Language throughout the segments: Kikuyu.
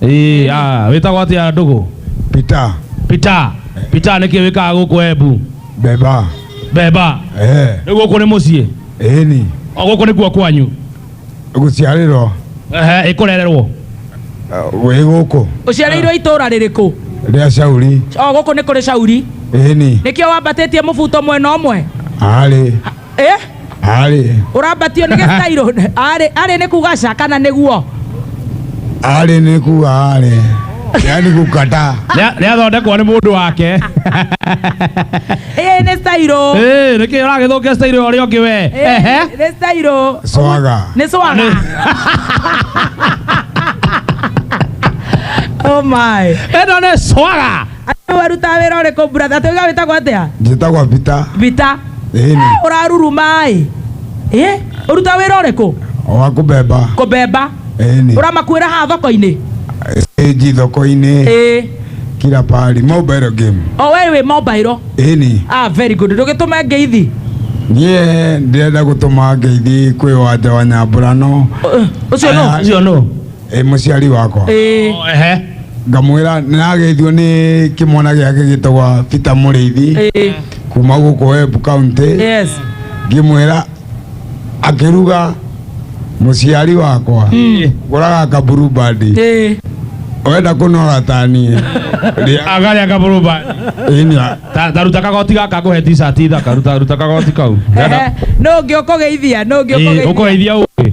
Ĩĩ, ah, wĩtagwo atĩa ndũgũ Peter pita pita nĩkĩ wĩkaga gũkũ embu Beba beba eh rĩu gũkũ nĩ mũciĩ eni o gũkũ nĩkuo kwanyu guciarĩrwo Ehe, ĩkũrererwo wĩ gũkũ ũciarĩirwo itũra rĩrĩkũ rĩa Shauri o gũkũ nĩ kũrĩ cauri eni nĩkĩo wambatĩtie mũbuto mwena ũmwe arĩ eh Arĩ. urambatio ni gitairo ari ari ni kuga ca kana niguo Arĩ nĩ kuga arĩ. Yaani gũkata. Nĩ athondekwo nĩ mũndũ wake. ĩĩ nĩ stairo Ĩĩ, nĩkĩ ũragĩthũkia stairo ũrĩa ũngĩ we. Ehe. nĩ stairo Swaga. nĩ swaga oh my Ĩno nĩ swaga. Andũ warutaga wĩra ũrĩkũ brother? Tũiga wĩtagwo atĩa? njĩtagwa bita Vita. ĩni Eh, Ũraruruma-ĩ. Eh, ũrutaga wĩra ũrĩkũ? wa kũbemba Kũbemba. ĩni Ũramakuĩra haha thoko-inĩ? stage thoko-inĩ Ĩĩ. kila pahali mobile game O we wĩ mobile. ĩni Ah, very good. Ndũgĩtũme ngeithi. niĩ ndĩrenda gũtũma ngeithi kwĩ wanja wa nyambũrano Ũ- Ũcio nũ? Aya. Ũcio nũ? ĩ mũciari wakwa Ĩĩ. Oh, ehe. ngamwĩra nĩrageithio nĩ kĩmwana gĩake gĩtagwa peter mũrĩithi Ĩĩ. kuma gũkũ web county Yes. ngĩmwĩra akĩruga mũciari wakwa gũraga kaburu bandi Ĩĩ. wenda kũnora taniĩ Rĩa- Angalia kaburu ba. ĩni Ta ta ruta kagoti gaka nguhe t-shirt ithaka ruta ruta kagoti kau. Ehe. Nũ ũngĩ ũkũgeithia? Nũ ũngĩ Ĩĩ, ũkũgeithia? Ũkũgeithia ũngĩ.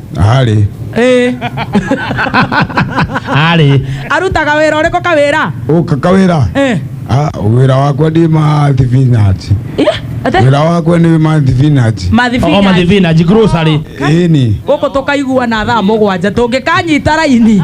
Arĩ. Eh, Arĩ. arutaga wĩra ũrĩkũ kawĩra Ũka kawĩra. Eh, Ah, Wĩra wakwa ndĩ ma thibinaci. eh, ate? Wĩra wakwa nĩ ma thibinaci. O Mathibinaci. mathibinaji grocery. Ĩni. gũkũ tũkaiguana thaa mũgwanja tũngĩkanyita raini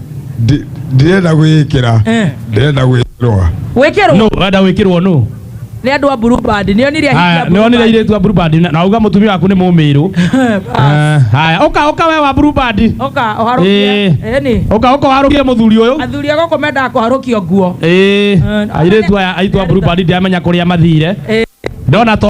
Ndi- ndirenda gwĩkĩra Eh. ndirenda gwĩkĩrwa wĩkĩrwo no wenda wĩkĩrwo nũ nĩ andũ a blue band nĩ onire haya nĩ wonire irĩtu a blue band na- na uga mũtumia waku nĩ mũmĩrũ Eh, haya ũka ũka we wa blue band oka oharũkie Eh. eni ũka ũka warũkie mũthuri ũyũ athuri a gũkũ mendaga kũharũkio nguo Eh, airĩtu aya aitũ a blue band ndiamenya kũrĩa mathire Eh. ndona to